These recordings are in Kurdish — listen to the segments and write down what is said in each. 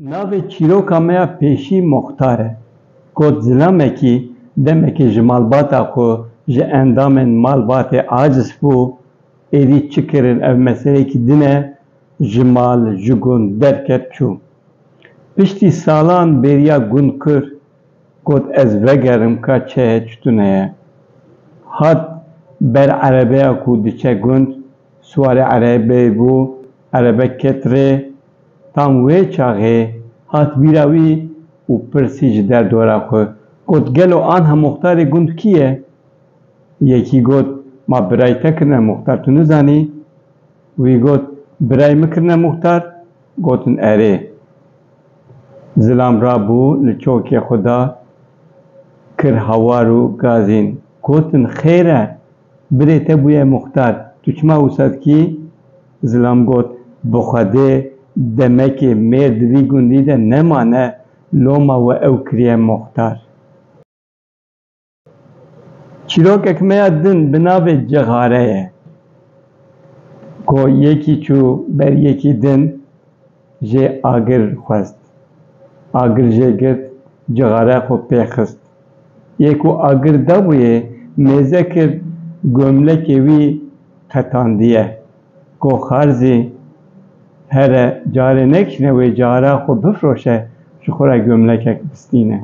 Navê çîroka me ya pêşî Muxtar e. Kot zilamekî demekî ji malbata xwe ji endamên malbatê aciz bû. Êdî çi kirin ev meseleyekî din e, ji mal, ji gund derket çû. Piştî salan bêriya gund kir Got ez vegerim ka çeye çi tune ye. Hat ber erebeya ku diçe gund, siwarê erebeyê bû, erebe ket rê. Tam wê çaxê hat bîra wî û pirsî ji derdora xwe, got gelo anha muxtarê gund kî ye? Yekî got ma birayî te kirine muxtar tu nizanî. Wî got, Birayê min kirine muxtar? Gotin, Erê. Zilam rabû li çokê xwe de kir hawar û gazîn. Gotin, Xêr e, birê te bûye muxtar, tu çima wisa dikî? Zilam got, Bi Xwedê, demekê mêr di vî gundî de nemane, loma we ew kiriye muxtar. Çîrokek me ya din bi navê Cixare ye. Ku yekî çû ber yekî din jê agir xwest. Agir jê girt, cixare xwe pê xist. Yê ku agir dabûyê mêze kir gomlekê wî qetandiye. Ku xar zî here carê nekişne wê cixare xwe bifroşe ji xwe re gomlekek bistîne.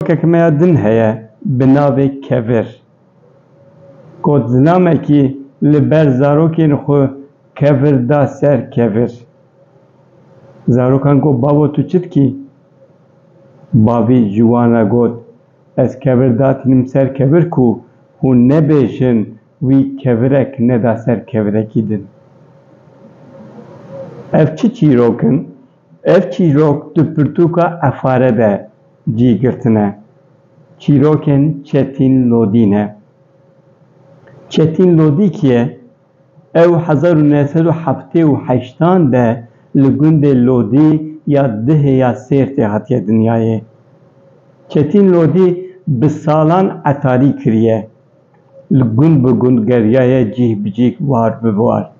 Çîrokek me ya din heye bi navê Kevir. Gotinamekî li ber zarokên xwe Kevir da ser Kevir. Zarokan got babo tu çi dikî? Bavî ji wan re got ez Kevir datînim ser Kevir ku hûn nebêjin wî Kevirek neda ser Kevirekî din. Ev çi çîrok in Ev çîrok di pirtûka Efare de cî girtine. Çîrokên Çetîn Lodî ne. Çetîn Lodî kî ye? Ew hezar û neh sed û heftê û heştan de li gundê Lodî ya Dihê ya Sêrtê hatiye dinyayê. Çetîn Lodî bi salan etarî kiriye. Li gund bi gund geriyaye cîh bi cîh war bi war.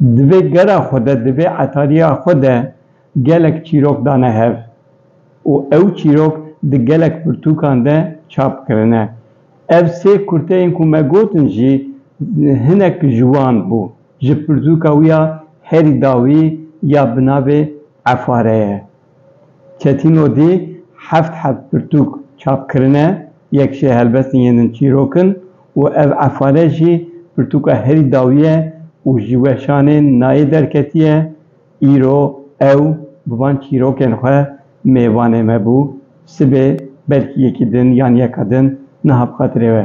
Di vê gera xwe de, di vê etariya xwe de gelek çîrok dane hev û ew çîrok di gelek pirtûkan de çap kirine. Ev sê kurteyên ku me gotin jî hinek ji wan bû. Ji pirtûka wî ya herî dawî ya bi navê Efare ye. Ketino dê heft heb pirtûk çap kirine, yek jê helbestên yên din çîrok in û ev efare jî pirtûka herî dawî ye û ji weşanê nayê derketiye, îro ew bi van çîrokên xwe mêvanê me bû, sibê belkî yekî din yan yeka din niha bi xatirê we.